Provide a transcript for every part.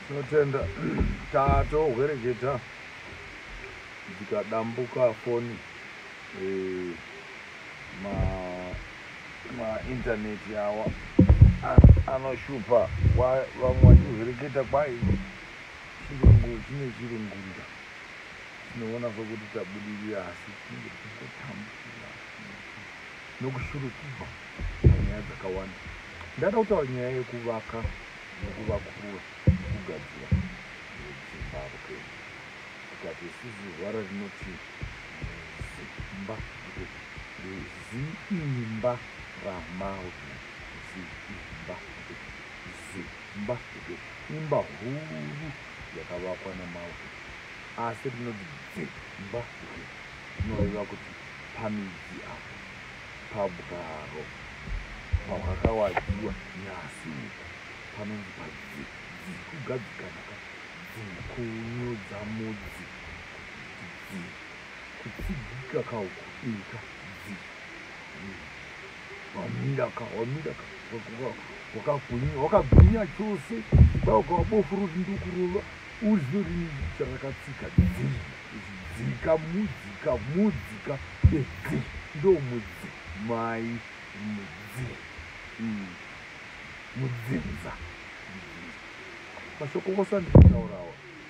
tinotenda tatohwereketa dzikadambuka foni eh, ma ma internet awa anoshupa vamwe vachizoreketa kwai chirungu chine chirungunda tinoona sokuti tabudirira asi tinenge tichitotambura nokushurukirwa panyaya dzakawanda ndada kutaura nyaya yekuvaka nekuvakurwa nekugadzira zimbabwe tikati sisi zvara rinotii zimba zimba ramauta zimba zimba imba huru yakavakwa nemauta asi rinoti dzimba rinoreva kuti pamidzi apo pabwaro pahwakawadziwa nyasi uko panonzi padzikugadzikana dzikunyudza mudzi kutsidzika kauku ika dzi wamira ka wamira ka wakagwinya wakagwinya chose dauka wabofu roti ndokurova uzive rini charakatsika dzi dzika mudzika mudzika edzi ndomudzi mai mudzi mm. mudzinza mashoko kosandikutaurawa mm.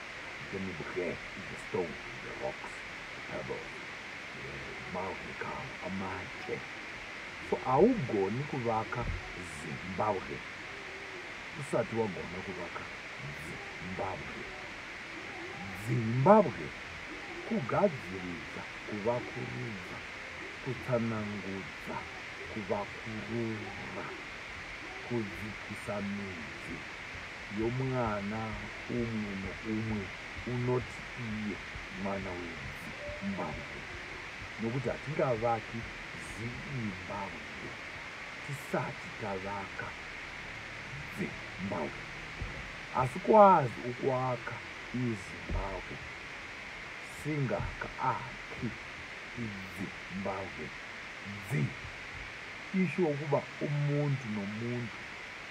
Then the Bukhel is the stone, the rocks, the pebbles, the mountain calm, amate. So haugoni kuvaka Zimbabwe usati wagona kuvaka Zimbabwe. Zimbabwe kugadziridza, kuvakurudza, kutsanangudza, kuvakurura, kudzikisa midzi. yomwana umwe noumwe unoti iye mwana weZimbabwe nokuti hatingavaki Zimbabwe tisati tavaka Zimbabwe asi kwazi ukuaka iZimbabwe singaka aki iZimbabwe dzi isho ukuba umuntu nomuntu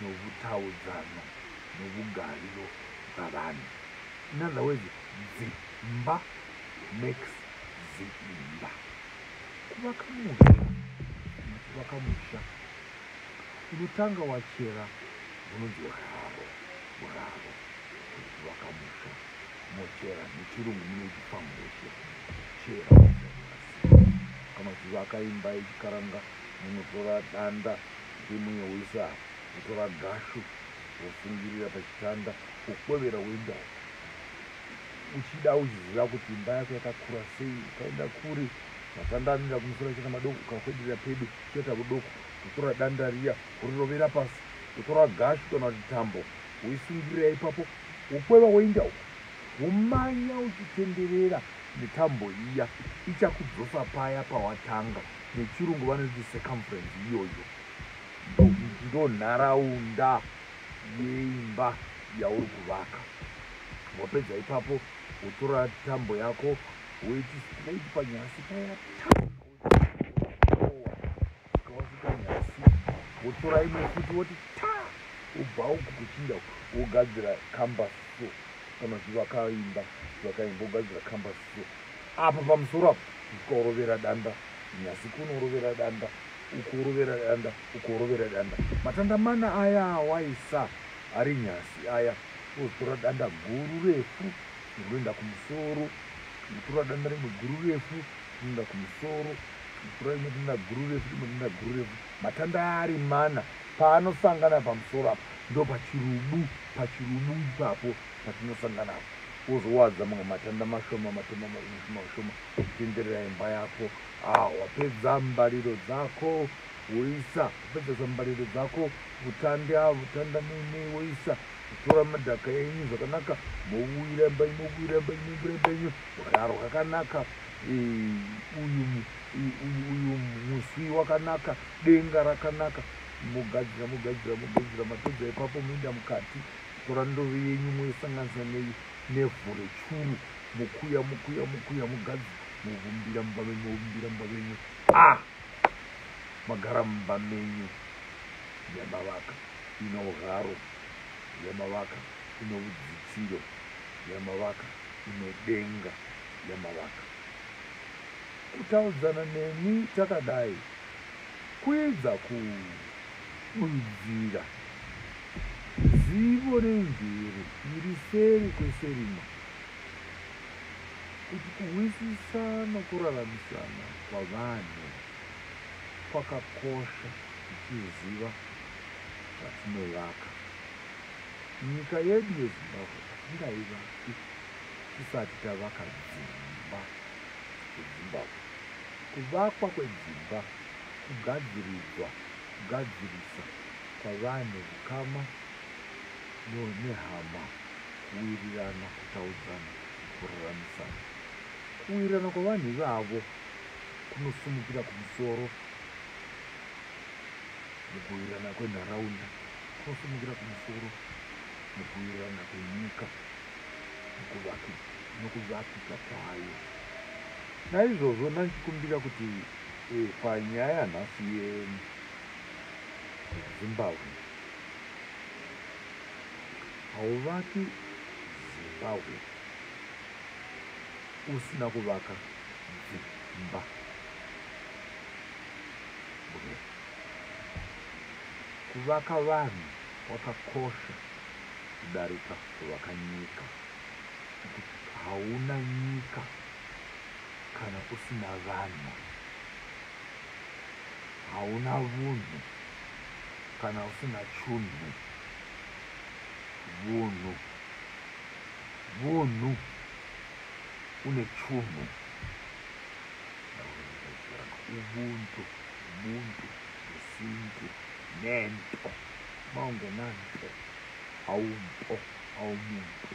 nohutaudzano nobugariro bwavanhu. In other words, dzimba makes ziimba. Kuvaka musha kuvaka musha unotanga wachera unonzi uraro uraro kuvaka musha mochera nechirungu munoti famushe chera kana chivaka imba yechikaranga Munotora danda remunyawoisa apa, wotora gashu wosungirira pachitanda wokwevera woenda uko. Uchida uchiziva kuti imba yako yakakura sei, ukaenda kure matanda anoenda kumusoro achiita madoko, ukakwederera pedo uchaita kudoko. Wotora danda riya worirovera pasi, wotora gashu kana kuti tambo woisungirira ipapo, wokweva woenda uko, womanya uchitenderera netambo iya, ichakudzosa paya pawatanga. nechirungu vanoiti circumference iyoyo ndo nharaunda yeimba yauri kuvaka wapedza ipapo wotora tambo yako woiti straight panyasi paya wotora imwe futi woti ta ubva uku kuchinda wogadzira cambus so kana zvivakaimba zvakaimba wogadzira cambus apa pamusoro apo ukaorovera danda nyasi kunorovera danda ukorovera danda ukorovera danda matanda mana aya awaisa ari nyasi aya ozotora danda guru refu unoenda kumusoro unotora danda rimwe guru refu unoenda kumusoro unotora rimwe danda guru refu rimwe danda guru refu matanda ari mana paanosangana pamusoro apo ndo pachirubu pachirubu ipapo patinosangana apo wozowadza mamwe matanda mashoma matema mashoma mashoma kutenderera imba yako ah, wapedza mbariro dzako woisa wapedzesa mbariro dzako vutandi a ah, vutanda muine woisa kutora madhaka enyu zvakanaka mouira imba ino uira imba ino uira imba ino raro kakanaka uyu uyu muswi wakanaka denga rakanaka mogadzira mogadzira mogadzira mapedza ipapo moenda mukati Tora ndove yenyu moisanganisa nei nevhu rechuru mokuya mokuya mokuya mugadzi movumbira mumba menyu movumbira mumba menyu a ah! magara mumba menyu yamavaka ino ugaro yamavaka ino udzitiro yamavaka ino denga yamavaka kutaudzana nemi takadai kuedza ku Kunzira. Zivo remvero iri seri kweserima kuti kuhwisisa nokuraramisana kwavanhu kwakakosha tichiziva zvatinovaka nyika yedu yezimbabwe hatingaivaki tisati tavaka dzimba dzezimbabwe kuvakwa kwedzimba kugadziridzwa, kugadzirisa kwavanhu, hukama nehama, kuwirirana, kutaudzana, kururamisana. Kuwirirana kwavanhu ivavo kunosumukira kumusoro mukuwirirana kwenharaunda, kunosumukira kumusoro mukuwirirana kwenyika nokuvakika kwayo. Naizvozvo, ndandikumbira kuti Eh, panyaya nhasi yezimbabwe hauvaki zimbabwe usina kuvaka dzimba kuvaka vanhu kwakakosha kudarika kuvaka nyika hauna nyika Kana usina vanhu hauna vunhu, kana usina chunhu vunhu vunhu une chunhu ubuntu ubuntu usintu nento maungenanto aumpo aumuntu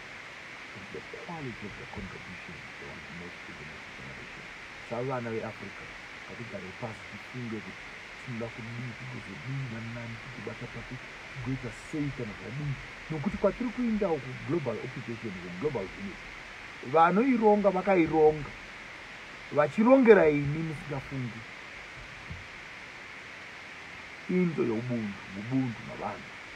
is the quality of the contribution they want to make to the next generation savana veafrica ngatigare pasi tifunge kuti tinoda kudii tigozodii nanani tigobata papi tigoita sei kana zvadii nokuti kwatiri kuindawo kuglobal occupation kuglobal village vanoironga vakaironga vachirongera ini musingafungi into youbundu ubundu navanhu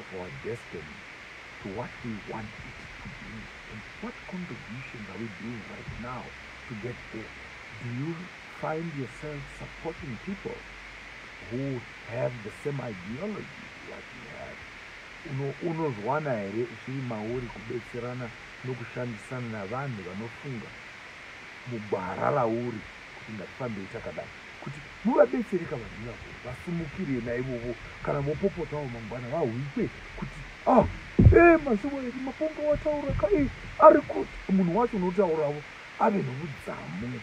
of our destiny to what we want it to be and what contributions are we doing right now to get there do you find yourself supporting people who have the same ideology that you have unozwana here uchiri mauri kubetserana nokushandisana navanhu vanofunga mugwara rauri kuti ngatifambei takadai kuti muvabetsere ka vanhu ivavo vasimukire naivovo kana vopopotawo mangwana vahwikwe kuti a ah, e eh, mazivo eri maponga wataura ka e ari kuti munhu wacho unotauravo ave nokudzamu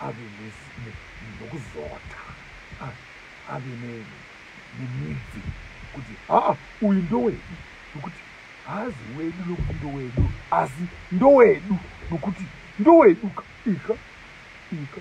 ave nokuzota ah, ave nemidzi kuti haa ah, uyu ndowedu nokuti haazi wedu nokuti ndowedu asi ndowedu nokuti ndowedu ka ika ika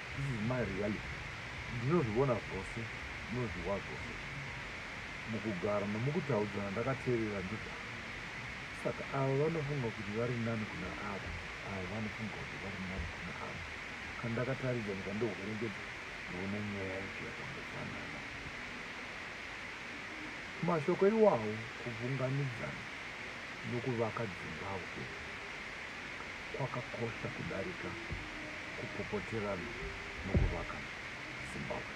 This is my reality ndinozvivona zvose ndinozviwa zvose mukugara nomukutaudzana ndakateerera ndoda saka ava vanofunga kuti vari nani kuna ava ava vanofunga kuti vari nani kuna ava kana ndakataridza ndikandohwerengedza ndoona nyaya yacho yakangofanana mashoko iwawo kuvunganidzana nokuvaka dzimba upenyu kwakakosha kudarika kupopoterana mukuvaka Zimbabwe.